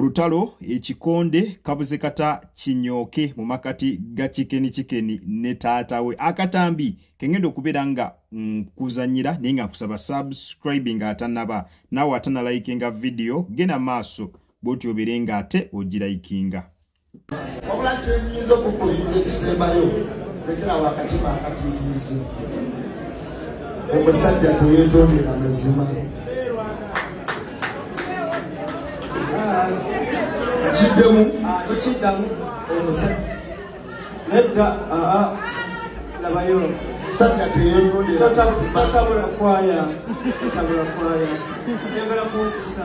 Olutalo ekikonde kabuze kata kinyooke mu makati ga kikeni kikeni ne taata we akatambi kengenda okubeera nga nkuzanyira naye nga nkusaba subscribe nga atanaba naawe atana likinga vidiyo genda maaso bwoti obeere nga ate ogirayikinga wabula kyenyinza okukubiriza ekisembayo lekerawo akatima akatitiizi omusajja teyetondera mazima kiddemu tekiddamu omusajja nedda aa labayo musajja teyetondera tabula kwaya tabula kwaya ayagala kunzisa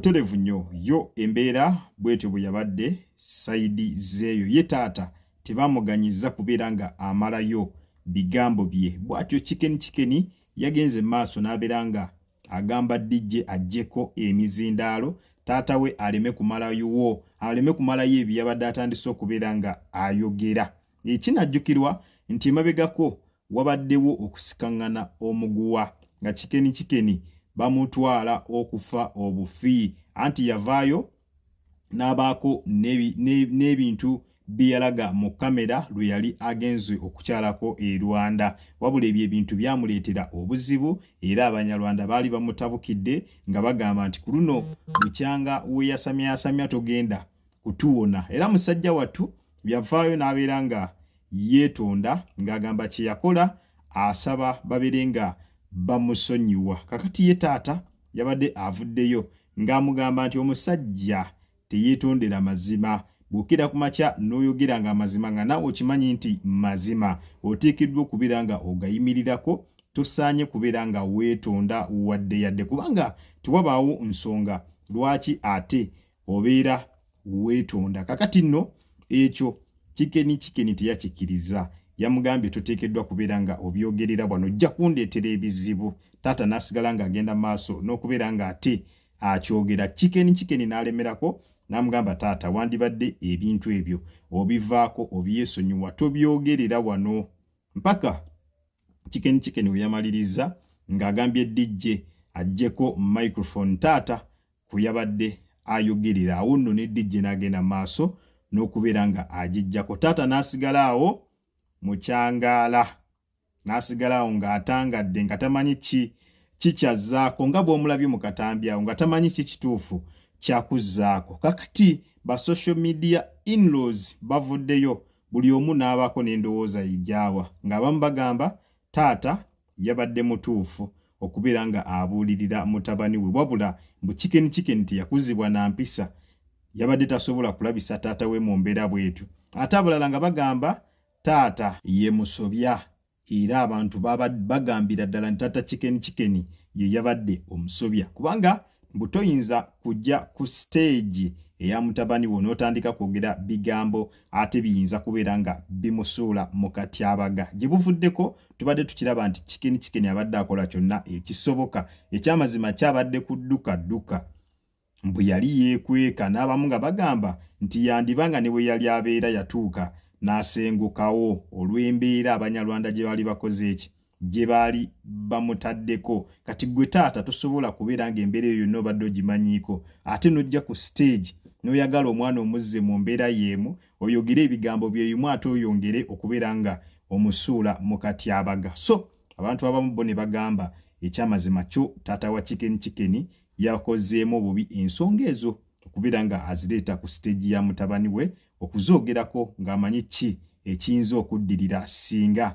terevu nnyo yo embeera bwetyo bwe yabadde sayidi zeeyo ye taata tebamuganyiza kubeera nga amalayo bigambo bye bwatyo kikeni kikeni yagenze maaso n'abeera nga agamba DJ ajjeko emizindaalo taata we aleme kumalayowo aleme kumalayo ebyo yabadde atandise okubeera nga ayogera ekinajjukirwa nti emabegako wabaddewo okusikaŋŋana omuguwa nga kikeni kikeni bamutwala okufa obufi anti yavaayo n'abaako n'ebintu bye yalaga mu kamera lwe yali agenze okukyalako e rwanda wabula ebyo ebintu byamuleetera obuzibu era abanyarwanda baali bamutabukidde nga bagamba nti ku luno bukyanga weyasamyayasamya togenda kutuwona era musajja wattu yavaayo n'abeera nga yeetonda ng'agamba kye yakola asaba babeere nga bamusonyiwa kakati ye taata yabadde avuddeyo ng'amugamba nti omusajja teyeetondera mazima bw'okira ku makya n'oyogera ng'amazima nga naawe okimanyi nti mazima oteekeddwa okubeera nga ogayimirirako tosaanye kubeera nga weetonda wadde yadde kubanga tewabaawo nsonga lwaki ate obeera weetonda kakati nno ekyo kikeni kikeni teyakikiriza yamugambye toteekeddwa kubeera nga obyogerera bwano ojja kundeetera ebizibu taata n'asigala ng'agenda maaso n'okubeera ng'ate akyogera kikeni kikeni n'alemerako n'amugamba taata wandibadde ebintu ebyo obivaako obyesonyiwa tobyogerera wano mpaka kikeni kikeni weyamalirizza ng'agambye dijje ajjeko microphone taata ku yabadde ayogerera awo nno ne dijje n'agenda maaso n'okubeera nga agijjako taata n'asigala awo mu kyangaala n'asigala awo ng'atangadde nga tamanyi ki kikyazzaako nga bw'omulabye mu katambi awo nga tamanyi ki kituufu kyakuzzaako kakati ba social media inlaws bavuddeyo buli omu n'abaako n'endowooza yejaawa ng'abamu bagamba taata yabadde mutuufu okubeera nga abuulirira mutabani we wabula mbu chicken chicken teyakuzibwa na mpisa yabadde tasobola kulabisa taata we mu mbeera bwetu ate abalala nga bagamba taata ye musobya era abantu bagambira ddala nti taata chicken chicken ye yabadde omusobya kubanga mbu toyinza kujja ku siteegi eya mutabani wo n'otandika kwogera bigambo ate biyinza kubeera nga bimusuula mu katyabaga gye buvuddeko tubadde tukiraba nti kikeni kikeni abadde akola kyonna ekisoboka ekyamazima kyabadde kudduka dduka mbu yali yeekweka n'abamu nga bagamba nti yandiba nga ne bwe yali abeera yatuuka n'asengukawo olw'embeera abanyarwanda gye baali bakoze eki gye baali bamutaddeko kati gwe taata tosobola kubeera nga embeera eyo yonna obadde ogimanyiiko ate nojja ku stage noyagala omwana omuzze mu mbeera yeemu oyogere ebigambo byeyimu ate oyongere okubeera nga omusuula mu katyabaga so abantu abamu bo ne bagamba ekyamazima kyo taata wa kikeni kikeni yakozeemu obubi ensonga ezo okubeera nga azireeta ku stage ya mutabani we okuzoogerako ng'amanyi ki ekiyinza okuddirira singa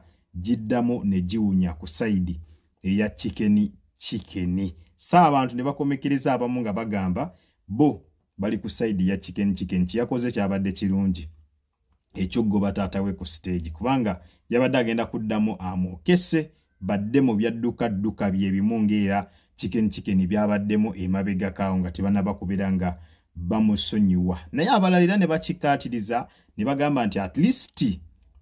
giddamu ne giwunya ku sayidi eya kikeni kikeni so abantu ne bakomekereza abamu nga bagamba bo bali ku sayidi ya kikeni kikeni kyeyakoze kyabadde kirungi ekyokugoba taata we ku siteegi kubanga yabadde agenda kuddamu amwokese badde mu byadduka dduka bye bimu ng'era chicken chicken byabaddemu emabega kaawo nga tebanaba kubeera nga bamusonyiwa naye abalala era ne bakikkaatiriza ne bagamba nti at least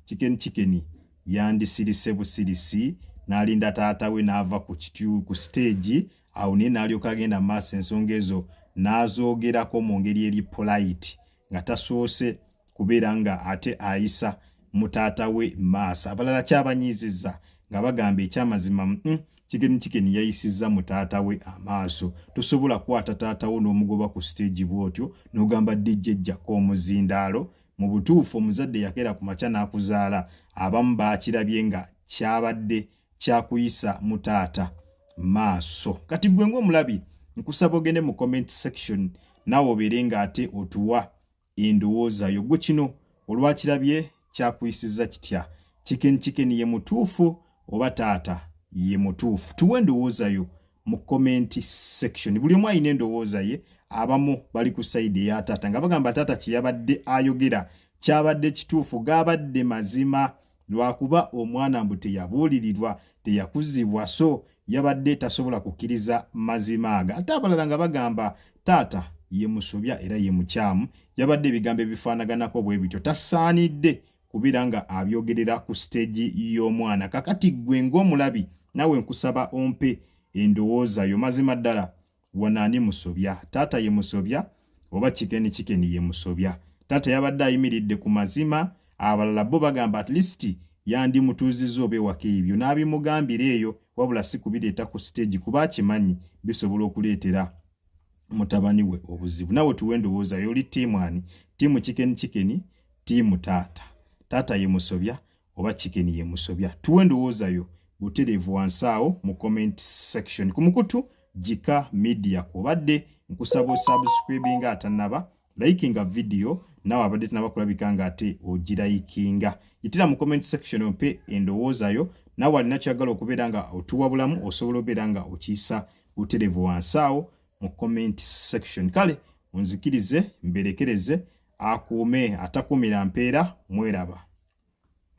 chicken chicken yandisirise busirisi n'alinda taata we n'ava ku kityu ku siteegi awo naye n'alyoka agenda mu maaso ensonga ezo n'azoogerako mu ngeri eri polite nga tasoose kubeera nga ate ayisa mutaata we maaso abalala kyabanyiiziza nga bagamba ekyamazima mm, kigeni kigeni yayisizza mutaata we amaaso tosobola kwata taata wo n'omugoba ku siteegi bw'otyo n'ogamba dijjejjako omuzindaalo mu butuufu omuzadde yakeera ku makya n'akuzaala abamu baakirabye nga kyabadde kyakuyisa mu taata maaso kati gwe ng'omulabi nkusaba ogende mu comment section naawe obeere ng'ate otuwa endowooza yo gwe kino olwakirabye kyakuyisiza kitya chicken chicken ye mutuufu oba taata ye mutuufu tuwe endowooza yo mu comment section buli omu alina endowooza ye abamu bali ku sayidi eya taata nga bagamba taata kyeyabadde ayogera kyabadde kituufu gabadde mazima lwakuba omwana mbu teyabuulirirwa teyakuzibwa so yabadde tasobola kukkiriza mazima aga ate abalala nga bagamba taata ye musobya era ye mukyamu yabadde ebigambo ebifaanaganako bwe bityo tasaanidde kubeera nga abyogerera ku siteegi y'omwana kakati ggwe ng'omulabi nawe nkusaba ompe endowooza yo mazima ddala wano ani musobya taata ye musobya oba kikeni kikeni ye musobya taata yabadde ayimiridde ku mazima abalala bo bagamba at least yandi mutuuzizza oba ewaka ebyo n'abimugambira eyo wabula si kubireeta ku siteegi kuba akimanyi bisobola okuleetera mutabani we obuzibu nawe tuwe endowooza yo oli tiimu ani tiimu kikeni kikeni tiimu taata taata ye musobya oba chicken ye musobya tuwe endowooza yo butereevu wansi awo mu comment section ku mukutu jika media kwobadde nkusaba osubscribe nga atanaba likinga video nawe abadde tanaba kulabika nga ate ogirayikinga yitira mu comment section ompe endowooza yo nawe alina kyagala okubeera nga otuwabulamu osobola obeera nga okiyisa butereevu wansi awo mu comment section kale onzikirize mberekereze akuume atakuumira mpeera mweraba